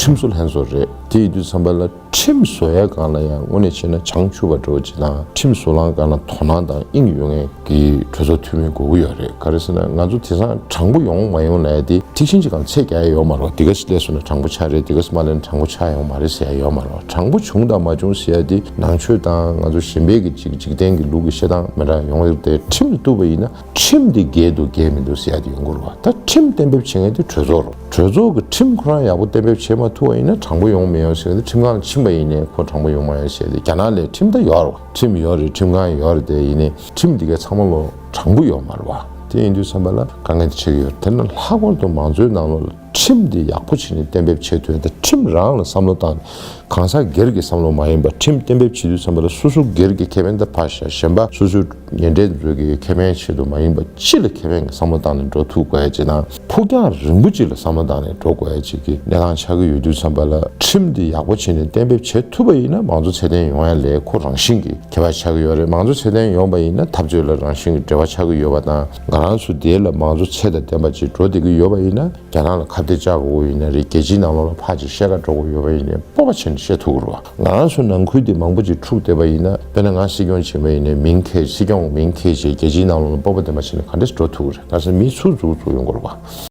ཁྲིམས་བཟོ་ལྷན་བཟོ་རེད་དེ་ཡི་དུས་བསམ་པ་ལ་ཁྲིམས་བཟོ་ཡ་གང་ལ་ཡང་དངོས་ནས་བྱས་ན་བྱང་ཆུབ་བ་འགྲོ་བ་སྤྱི་དང་ཁྲིམས་བཟོ་ལང་གང་ལ་དོ་སྣང་དང་དབྱིངས་ཡོད་ངེས་ཀྱི་གྲོས་ཚོགས་འཐུས་མི་དགོས་ཀྱི་ཡོད་རེད་ག་རེ་ཟེར་ན་ང་ཚོ་དེ་སང་དྲང་པོ་ཡོང་མ་ཡོང་ལ་ཡ་དེ་ཐིག་ཤིང་གཅིག་གམ་ཚད་བརྒྱ་ཡ་ཡོད་མ་རོག་དེ་ག་ཞིག་ལས་བཟོ་ན་དྲང་པོ་ཆགས་རེད་དེ་ག་ཟེར་མ་ལས་ན་དྲང་པོ་ཆགས་ཡོང་མ་རེད་ཟེར་ཡ་ཡོད་མ་རོག་དྲང་པོ་བྱུང་དང་མ་བྱུང་ཟེར་ཡ་དེ་ནང་ཆོས་དང་ང་ཚོ་གཞན་པའི་གི་གཅིག་འཇིག་རྟེན་གི་ལུགས་ཀྱི་བཤད་སྟངས་མི་འདྲ་ཡོང་ཡོད་དེ་ཁྲིམས་བཏུབ་པ་ཡིན་ན། ཁྲིམས་དེ་འགལ་འདུག་འགལ་མི་འདུག་ཟེར་ཡག་དེ་ཡོང་གི་རེད་བ། ད་ཁྲིམས་གཏན་འབེབས་བྱེད་མཁན་དེ་གྲོས་ཚོགས་རེད། གྲོས་ཚོགས་ཀྱི་ཁྲིམས་ཁོ་རང་ཡག་པོ་གཏན་འབེབས་བྱེད་མ་ཐུབ་བ་ཡིན་ན་དྲང་པོ་ཡོང་མི་ཡོང་ཟེར་གི་ཁྲིམས་ཁང་ལ་ཕྱིན་པ་ཡིན་ནའི་ཁོ་དྲང་པོ་ཡོང་མ་ཡོང་ཟེར་ཏེ་རྒྱ་ནག་ལས་ཁྲིམས་ད་ཡོག་རེད་བ། ཁྲིམས་ཡོག་རེད་ཁྲིམས་ཁང་ཡོག་རེད་དེ་ཡིན་ནའི་ཁྲིམས་དེ་གའི་ཚང་མ་ལོ་དྲང་པོ་ཡོག་མ་རེད་བ། དེ་ཡིན་དུས་བསམ་པ་ལ་དཀའ་ངལ་དེ་ཆེ་གི་ཡོད་རེད་དེ་ན་ལྷག་པར་དུ་མང་གཙོའི་ནང་ལོ། ཁྲིམས་དེ་ཡག་པོ་བྱས་ནས་གཏན་འབེབས་བྱེད་དོན་དང་ཁྲིམས་རང་ལ་བསམ་བློ་བཏང་ནས་གང་ཟག་སྒེར་གྱི་བསམ་བློ་མ་ཡིན་པར་ཁྲིམས་གཏན་འབེབས་བྱེད་དུས་འཚམ་པ་ལ་སོ་སོ་སྒེར་གྱི་ཁེ་ཕན་དང་བར་ཞེན་ཞེན་པ་སོ་སོའི་ཉེ་འབྲེལ་མཛོད་དགེའི་ཁེ་ཕན་ཆེད་དུ་མ་ཡིན་པར་སྤྱི་ལ་ཁེ་ཕན་གྱི་བསམ་བློ་བཏང་ནས་འགྲོ་ཐུབ་དགོས་ཅེ་ན་ཕུགས་རྒྱང་རིང་པོ་སྤྱི་ལ་བསམ་བློ་བཏང་ནས་འགྲོ་དགོས་ཡ་ཅེས་ཀྱི་གནས་སྟངས་ཆགས་ཀྱི་ཡོད་དུས་འཚམ་པ་ལ་ཁྲིམས་དེ་ཡག་པོ་བྱས་ནས་གཏན་འབེབས་བྱེད་ཐུབ་པ་ཡིན་ན་མང་གཙོ་ཚད་ལྡན་ཡོང་ཡ་ལས་ཁོ་རང་བཞིན་གྱིས་ཁེ་བ་ཆགས་ཀྱི་ཡོད་རེད་མང་གཙོ་ཚད་ལྡན་ཡོང་པ་ཡིན་ན་འཐབ་རྩོད་ལ་རང་བཞིན་གྱིས་འབྲེལ་བ་ཆགས་ཀྱི་ཡོད་པ་དང། ང་རང་ཚོ་དེ་ལ་མང་གཙོ་ཚད་དང་ལྡན་པ་ཅིག་འགྲོ་བདེ་གི་ཡོད་པ་ཡིན་ན་རྒྱ་ནག་ལ་ཁ་བརྡའི་ལྕག་འགོ་བོ་ཡིན་ན་རེད་རྒྱལ་སྤྱིའི་ནང་ལོག་ལ་ཕག་ཅིག་ཤེལ་ཁ་འགྲོ་གོ་ཡོད་པ་ཡིན་ནའི་སྤོབས་པ་ཆེ་ནས་བཤད་ཐུག་གོ་རོགས་ང་རང་ཚོ་ནང་ཁུལ་དེ་མང་པོ་ཅིག་འཁྲུག་བསྡད་པ་ཡིན་ན་དཔེར་ན་ང་སྲིད་སྐྱོང་བྱེད་མ་ཡིན་ནའི་མིང་ཁས་སྲིད་སྐྱོང་མིང་ཁས་བྱས་རྒྱལ་སྤྱིའི་ནང་ལོག་ལ་སྤོབས་པ་ལྡན་པ་བྱས་ནས་ག་འདྲ་ཞིག་འགྲོ་ཐུག་གི་རེད་ང་ཚོ་མི་ཚུགས་འཛུགས་འཛུགས་ཡོང་གོ་རོགས།